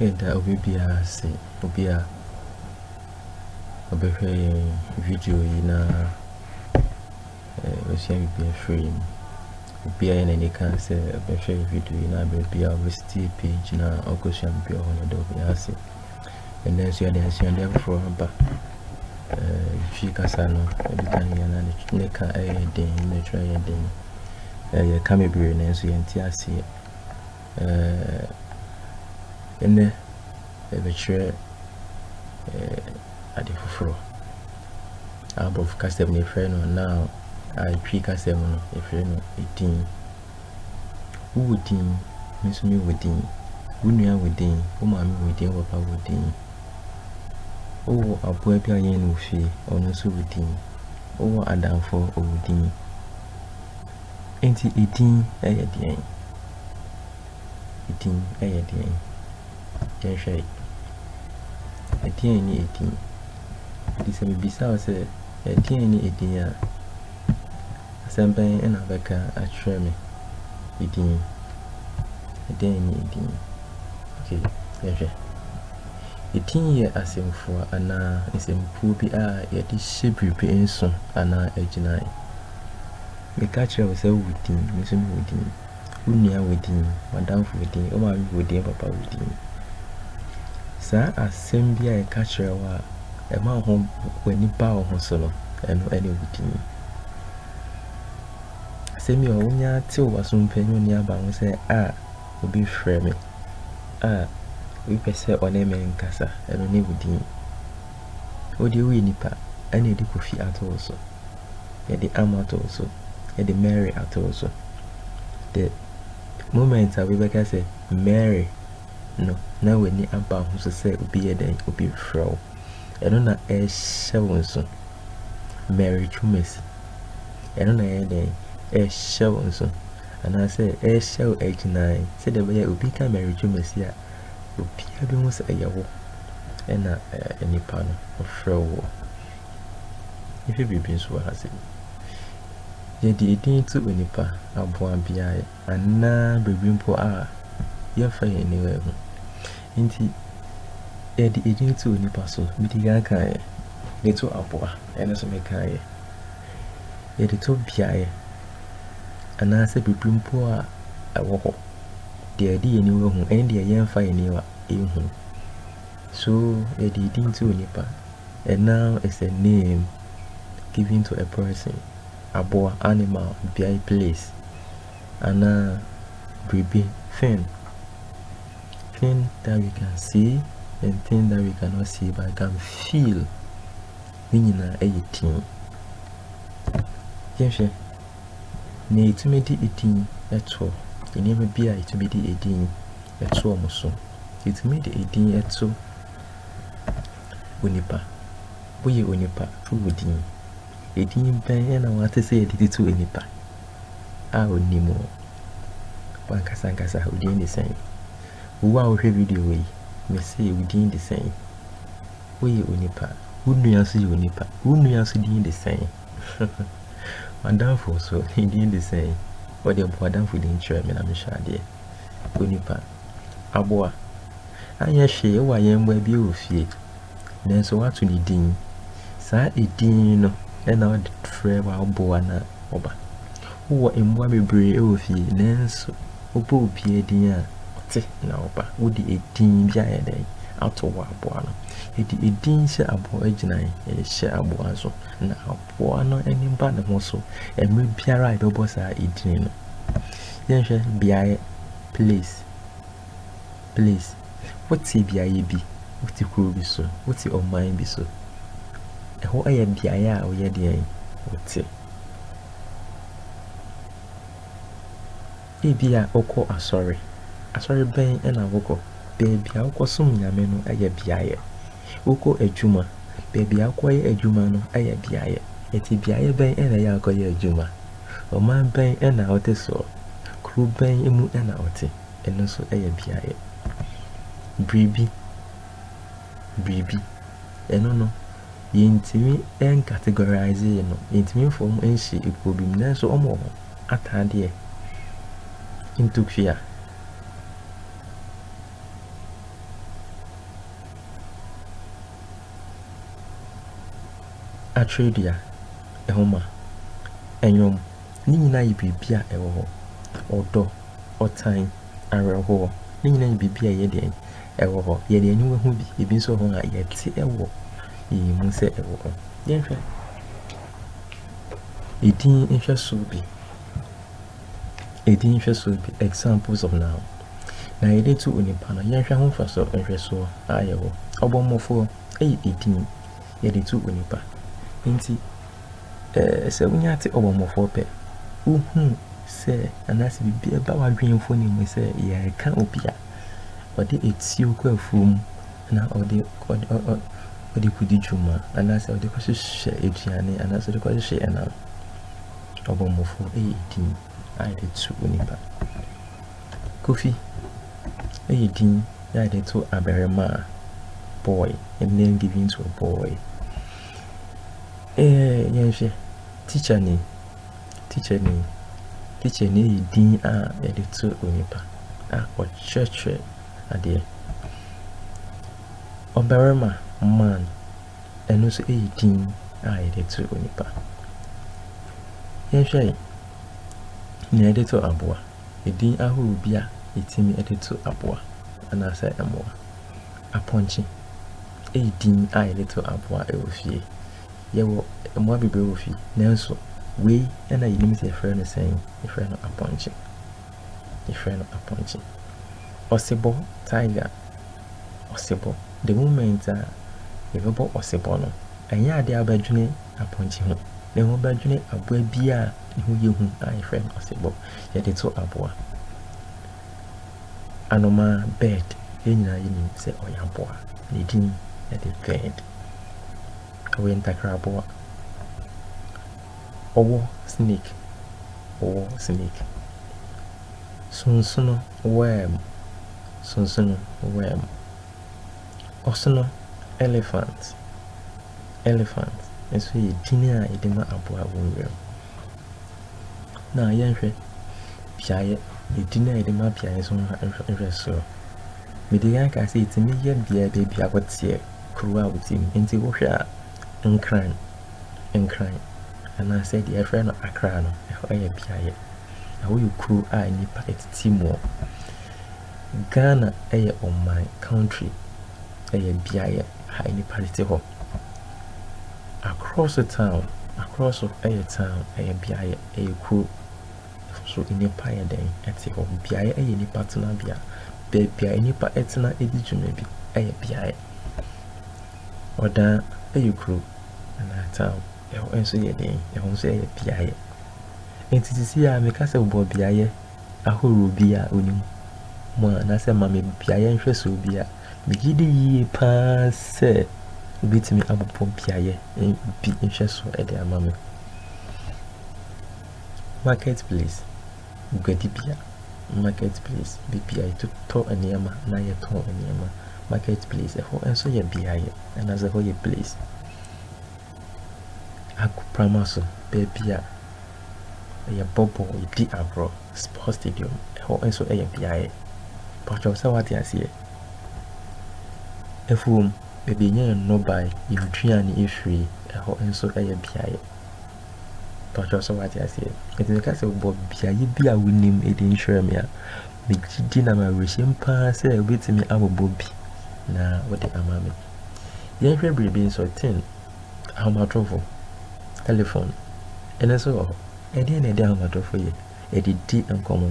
Yɛda obi biara ase, obi a ɔbɛhwɛ yɛn video yi na ɔbɛsua biribi afiri mu. Obi a yɛ n'ani ka sɛ ɔbɛhwɛ video yi na baabi a ɔbɛsitie page na ɔkɔsua biribi wɔ hɔ no, yɛda obiara ase. Ɛnnɛ nso yɛde asuade afoforɔ aba. Twi kasa no, ebi ka yɛ na ne ka yɛ den, ne twerɛ yɛ den. Yɛka bebree nanso yɛnte aseɛ. Ɛnnɛ yɛbɛkyerɛ ade foforɔ. Abɔfo kasa mu no yɛfrɛ no noun, a Twi kasa mu no yɛfrɛ no edin. Wo wɔ din, me nso me wɔ din, wo nua wɔ din, wo maame wɔ din, wo papa wɔ din. Wo wɔ aboa bi a yɛn ne wo fie, ɔno nso wɔ din. Wo wɔ adamfo, ɔwɔ din. Enti edin yɛ deɛn? Edin yɛ deɛn? Yɛnhwɛ yi. Ɛdeɛn ne edin? Nti sɛ mebisa wo sɛ ɛdeɛn ne edin a? Asɛm bɛn na wobɛka akyerɛ me? Edin. Dɛn ne edin? Okay, yɛhwɛ. Edin yɛ asɛmfua anaa nsɛmkuo bi a yɛde hyɛ biribi nso anaa agyinae. Meka kyerɛ wo sɛ wowɔ din, me nso mewɔ din. Wo nua wɔ din, w'adamfo wɔ din, wo maame wɔ din, papa wɔ din. Saa asɛm bi a yɛka kyerɛ wo a ɛma ho w'ani ba wo ho so no, ɛno ne wo din. Asɛm yi ɔ, wonya tew w'aso mpo ɛnyɛ onni aba ho sɛ a obi frɛ me a obi pɛ sɛ ɔne me nkasa, ɛno ne wo din. Wo deɛ woyɛ nipa, ɛna yɛde Kofi ato wo so, yɛde Am ato wo so, yɛde Mary ato wo so. The moment a obi bɛka sɛ Mary no na w'ani aba wo ho so sɛ obi yɛ dɛn? Obi refrɛ wo. Ɛno na ɛrehyɛ wo nso. Mary Twumasi. Ɛno na ɛyɛ dɛn? Ɛrehyɛ wo nso. Anaasɛ ɛrehyɛ wo agyinae sɛdeɛ ɛbɛyɛ obi ka Mary Twumasi a obiara bɛhu sɛ ɛyɛ wo ɛna nipa no ɔfrɛ wo. Yɛhwɛ biribi nso wɔ ha sɛ yɛde edin to onipa aboa biara anaa biribi mpo a, yɛmfa yɛn aniwa nhu. Enti yɛde edin to onipa so. Medi kan kaeɛ. De to aboa, ɛno nso mekaeɛ. Yɛde to beaeɛ anaasɛ biribi mpo a ɛwɔ hɔ, deɛ yɛde yɛn aniwa hu ne deɛ yɛmfa yɛn aniwa nhu. So yɛde edin to onipa. A noun is a name given to a person. aboa, animal, beae, place, anaa biribi, thing, thing that we can see and thing that we cannot see but can feel, ne nyinaa ɛyɛ din. Yɛnhwɛ nea yɛtumi de edin ɛtoɔ, nneɛma bi a yɛtumi de edin ɛtoɔ mo so. Yɛtumi de edin ɛto onipa, woyɛ onipa, to wo din. Edin bɛn na woate sɛ yɛde tutu onipa a onni mu? Wankasa ankasa, wo din de sɛn? Wo a wohwɛ video wei, mese wo din de sɛn? Woyɛ onipa. Wo nua nso yɛ onipa. Wo nua nso din de sɛn? W'adamfo nso, ne din de sɛn? Wɔde bɔ w'adamfo din kyerɛ me na mehwɛ adeɛ. Onipa. Aboa. anyɛ hwee wɔ ayɛmmoa bi wɔ fie, nanso wato ne din. Saa edin no na ɔde frɛ w'aboa no a ɔba. Wowɔ mmoa bebree wɔ fie, nanso wobɔ obiara din a, ɔte na ɔba. Wode edin bi ayɛ dɛn ato w'aboa no? Yɛde edin hyɛ aboa gyinae, yɛhyɛ aboa nso, na aboa no ani ba ne ho so mmerɛ biara a yɛbɛbɔ saa edin no. Yɛnhwɛ beaeɛ, place. please wote beaeɛ bi, wote kuro bi so, wote ɔman bi so, ɛhɔ yɛ beaeɛ a woyɛ deɛn wote. Ebi a wokɔ asɔre, asɔre bɛn na wokɔ? Baabi a wokɔsom Nyame no yɛ beaeɛ. Wokɔ adwuma, baabi a wokɔyɛ adwuma no yɛ beaeɛ. Ɛti beaeɛ bɛn na ɛyɛ akɔyɛ adwuma? Ɔman bɛn na wote soɔ? Kuro bɛn mu na wote? ɛno nso yɛ beaeɛ. Biribi, biribi, ɛno no, yɛntumi ncategorise no, yɛntumi mfa wɔn nhyɛ ekuo bi mu, nanso wɔn wɔ hɔ. Ataadeɛ, ntokua, atwerɛdua, nwoma, nnwom. Ne nyinaa yɛ biribi a ɛwɔ hɔ. Ɔdɔ, ɔtan, awerɛhoɔ, ne nyinaa yɛ biribi a ɛyɛ deɛn? Ɛwɔ hɔ. Yɛde aniwa hu bi. Ebi nso wɔ hɔ a, yɛte wɔ yɛn mu sɛ ɛwɔ hɔ. Yɛnhwɛ edin nhwɛsoɔ bi. Edin nhwɛsoɔ bi, examples of noun. Na yɛde to onipa no, yɛnhwɛ ho mfasoɔ nhwɛsoɔ a ɛwɔ hɔ. Ɔbɔmmɔfoɔ yɛ edin yɛde to onipa. Nti eh, sɛ wonya te ɔbɔmmɔfoɔ pɛ, wohu sɛ anaasɛ biribi ɛba w'adwene mfoni mu sɛ yɛreka obi a ɔde etuo kɔ afuo mu na ɔde ɔde kɔdi dwuma anaasɛ ɔde kɔhyehyɛ aduane anaasɛ ɔde kɔhyehyɛ ɛnam ɔbɔmmɔfoɔ ɛyɛ din a yɛde to onipa kofi ɛyɛ din a yɛde to abarimaa boy a name given to a boy Eh, yɛnhwɛ. Teacher ni. Teacher ni. Teacher ni yɛ din a yɛde to onipa a ɔkyerɛkyerɛ adeɛ. Ɔbarima, man, ɛno nso yɛ din a yɛde to onipa. Yɛnhwɛ yi. Nea yɛde to aboa. Edin ahorow bi a yɛtumi de to aboa anaasɛ mmoa. Apɔnkye. Eyi din a yɛde to aboa wɔ fie. Yɛwɔ mmoa bebree wɔ fie, nanso wei na yenim sɛ yɛfrɛ no sɛn? Yɛfrɛ no apɔnkye. Yɛfrɛ no apɔnkye. Ɔsebɔ, tiger, ɔsebɔ. The moment a yɛbɛbɔ ɔsebɔ no, ɛnyɛ ade a wobɛdwene apɔnkye ho, na mmom wobɛdwene aboa bi a ne ho yɛ hu a yɛfrɛ no ɔsebɔ. Yɛde to aboa. anomaa, bird, yɛn nyinaa yɛnim sɛ ɔyɛ aboa. Ne din de bird. Ɔyɛ ntakraboa. Ɔwɔ snake, ɔwɔ snake. Sonsono, worm, sonsono, worm. Ɔsono, elephant, elephant. Nso yɛ din a yɛde ma aboa wɔ nwuram. na yɛnhwɛ beaeɛ, edin a yɛde ma beaeɛ so no nhwɛ soro. Mede kan kaa sɛ etumi yɛ beaeɛ baabi a wɔteɛ, kuro a wɔte mu. Nti wohwɛ a, Nkran, Nkran, anaasɛ deɛ yɛfrɛ no Accra no, ɛhɔ yɛ beaeɛ. Ɛhɔ yɛ kuro a nnipa tete mu. Ghana yɛ ɔman, country, ɛyɛ beaeɛ a nnipa tete hɔ. Akrɔso town, Akrɔso yɛ town, ɛyɛ beaeɛ, ɛyɛ kuro. Nso nnipa yɛ dɛn? Ɛte hɔ. Beaeɛ yɛ nnipa tenabea. Baabi a nnipa tena di dwuma bi yɛ beaeɛ. Ɔdaa yɛ kuro anaa town. Ɛhɔ nso yɛ dɛn? Ɛhɔ nso yɛ beaeɛ. Enti seesei ara meka sɛ wobɔ beaeɛ ahorow bi a onim mu anaasɛ ma me beaeɛ nhwɛsoɔ bi a, megye di yie paa sɛ obɛtumi abobɔ beaeɛ bi nhwɛsoɔ de ama me. Market place, guadibea, market place, baabi a yɛtotɔ nneɛma na yɛtɔn nneɛma. Market place, ɛhɔ nso yɛ beaeɛ anaasɛ ɛhɔ yɛ place. agoprama so, baabi a yɛbɔ bɔɔl, yɛdi agorɔ, sport stadium, ɛhɔ nso yɛ beaeɛ. Patrɔ sɛ wate aseɛ. Afuom, baabi a yɛnya yɛn nnɔbae, yɛn aduane afiri, ɛhɔ nso yɛ beaeɛ. Patrɔ sɛ wate aseɛ. Ɛti meka sɛ bɔ beaeɛ bi a wonim ɛdi nkyerɛ me a, megye di na mawerɛhyɛm paa sɛ wobɛtumi abobɔ bi na wode ama me. Yɛnhwɛ biribi nso, tin, ahomatorofo, telefon, ɛno nso wɔ hɔ. Ɛdeɛn na ɛde ahomatorofo yɛ? Ɛde di nkɔmmɔ.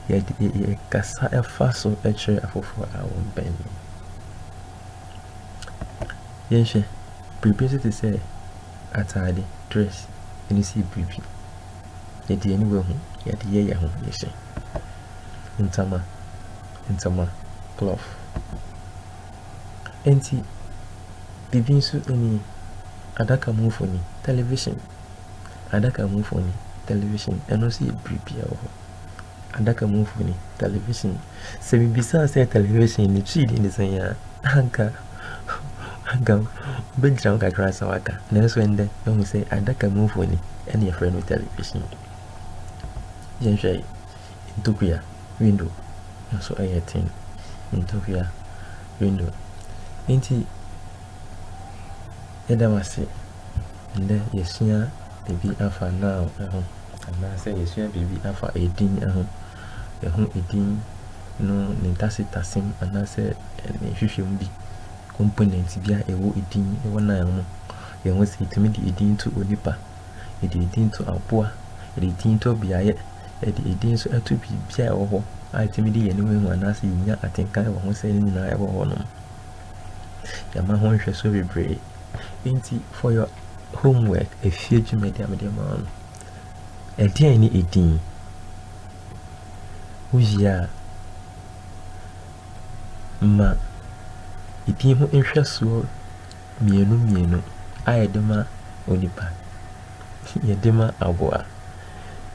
Yɛkasa ɛfa so kyerɛ afoforɔ a wɔbɛn no. Yɛnhwɛ biribi nso te sɛ ataade, dress, ɛno si biribi. Yɛde ani wɔ ho, yɛde yɛ yɛn ho yɛhyɛ. Ntama, ntama, cloth. Enti biribi nso ni, adaka mu mfoni, television. Adaka mu mfoni, television, ɛno nso yɛ biribi a ɛwɔ hɔ. Adaka mu mfoni, television. Sɛ mebisaa sɛ television ne twi din ne sɛn a, anka anka wobɛgyina wo kakra sɛ waka. Nanso ɛndɛ, mahu sɛ adaka mu mfoni ɛne yɛfrɛ no television. Yɛnhwɛ yi. Ntokua window nso yɛ ten. Ntokua window nti yɛda wo ase. Nnɛ yɛsua biribi afa noun ho anaasɛ yɛsua biribi afa edin ho. Yɛhu edin no ne ntasetasem anaasɛ ne nhwehwɛmu bi component bi a ɛwɔ edin ɛwɔ noun mu. Yɛhu sɛ yɛtumi de edin to onipa Yɛde edin to aboa, yɛde edin to beaeɛ, yɛde edin nso to biribiara a ɛwɔ hɔ a ɛtumi de yɛn ani huahua anaasɛ yɛnya atenka wɔ ho sɛ ne nyinaa ɛwɔ hɔnom. Yɛama ho nhwɛsoɔ bebree. Enti for your homework, efie dwumadi a mede ma wo no, ɛdeɛn ne edin? Wowie a, ma edin ho nhwɛsoɔ mmienu mmienu a yɛde ma onipa, yɛde ma aboa,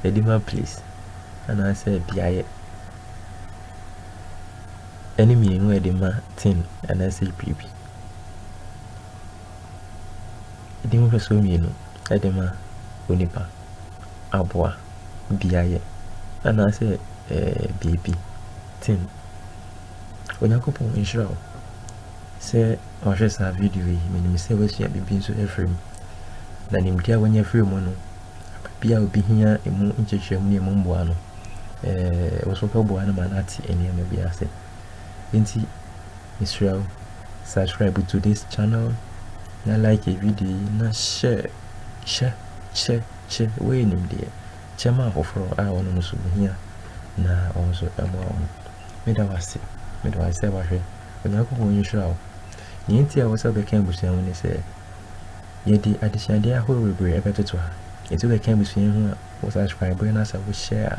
yɛde ma place anaasɛ beaeɛ ɛne mmienu a yɛde ma thing anaasɛ biribi. Yɛde nhwɛsoɔ mmienu ɛde ma onipa, aboa, beaeɛ anaasɛ ɛɛ biribi, thing. Onyankopɔn nhyira wo sɛ wahwɛ saa video yi. Menim sɛ woasua biribi nso afiri mu, na nimdeɛ a woanya afiri mu no, baabi a obi hia emu nkyerɛkyerɛmu ne emu mmoa no, ɛɛ wo so bɛboa no ma no ate nneɛma bi ase. Enti, mesrɛ wo, subscribe to this channel na like video yi na hyɛ hyɛ hyɛ hyɛ woyɛ nimdeɛ kyɛ ma afoforɔ a wɔn nso hia na wɔn nso mmoa wɔn. Meda wo ase. Meda wo ase sɛ wahwɛ. Onyankopɔn nhyira wo. Nea enti a ɛwɔ sɛ wobɛka abusua ho ne sɛ, yɛde adesuadeɛ ahorow bebree ɛbɛtoto ha. Enti wobɛka abusua yi ho a, wo subscribe na sɛ wo share a,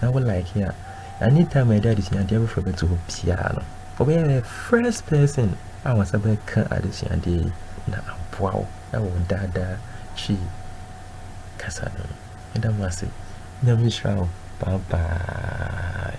na wo like a, anytime a yɛde adesuadeɛ afoforɔ bɛto hɔ biara no, wobɛyɛ the first person a wɔn nsa bɛka adesuadeɛ yi na aboa wo ɛwɔ daadaa twi kasa no mu. Meda mo ase. Nyame nhyira wo. Bye bye.